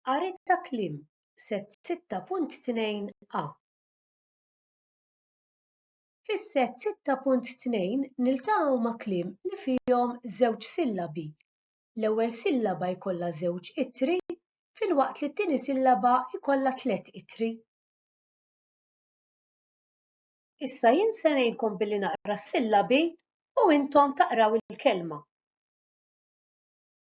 Qari ta' kliem, Sett 6.2 A. Fis-sett 6.2 niltaqgħu ma' kliem li fihom żewġ sillabi. L-ewwel sillaba jkollha żewġ ittri filwaqt li t-tieni sillaba jkollha tliet ittri. Issa jien se ngħinkom billi naqra s-sillabi u intom taqraw il-kelma.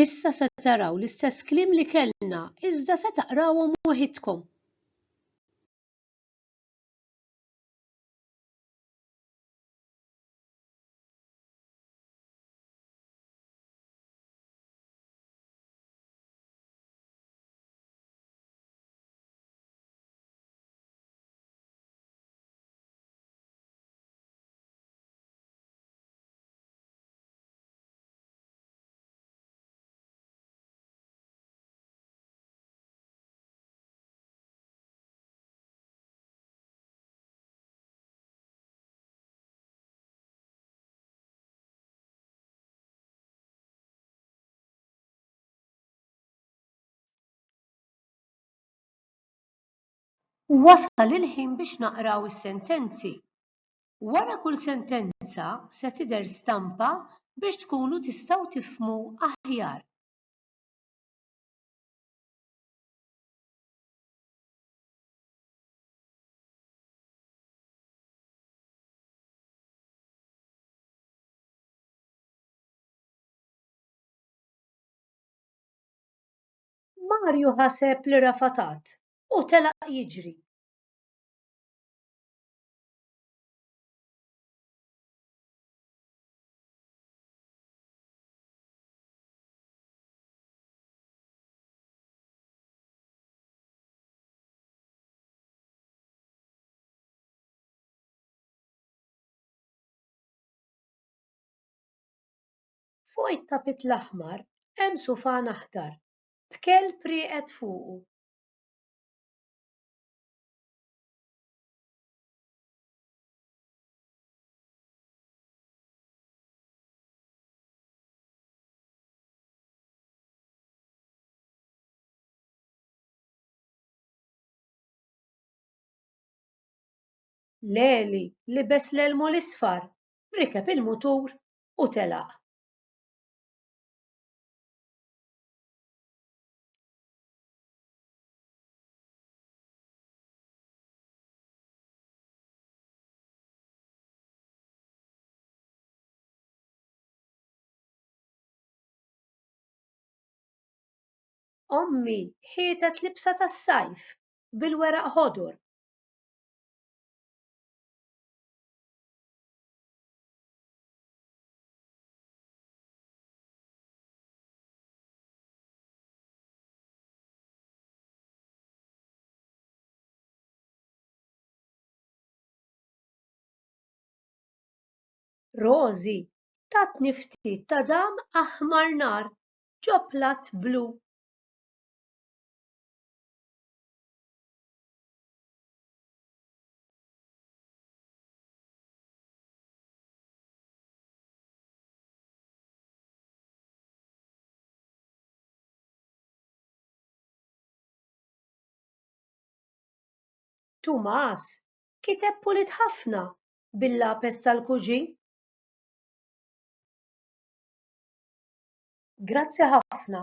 Issa se taraw l-istess kliem li kellna, iżda se taqrawhom waħidkom. Wasal il-ħin biex naqraw is-sentenzi. Wara kull sentenza se tidher stampa biex tkunu tistgħu tifhmu aħjar. Marju ħaseb li rafatat u telaq jiġri. Fuq it-tapit l-aħmar hemm sufan aħdar, b'kelb rieqed fuqu. L-għeli libes l-elmu l-isfar, rikeb il-mutur u telaq. Ommi ħietet libsa tas-sajf bil-weraq ħodur. Rożi tatni ftit ta' dam aħmar nar ġo platt blu. Tumas kiteb pulit ħafna bil-lapes tal-kuġin. Grazzi ħafna.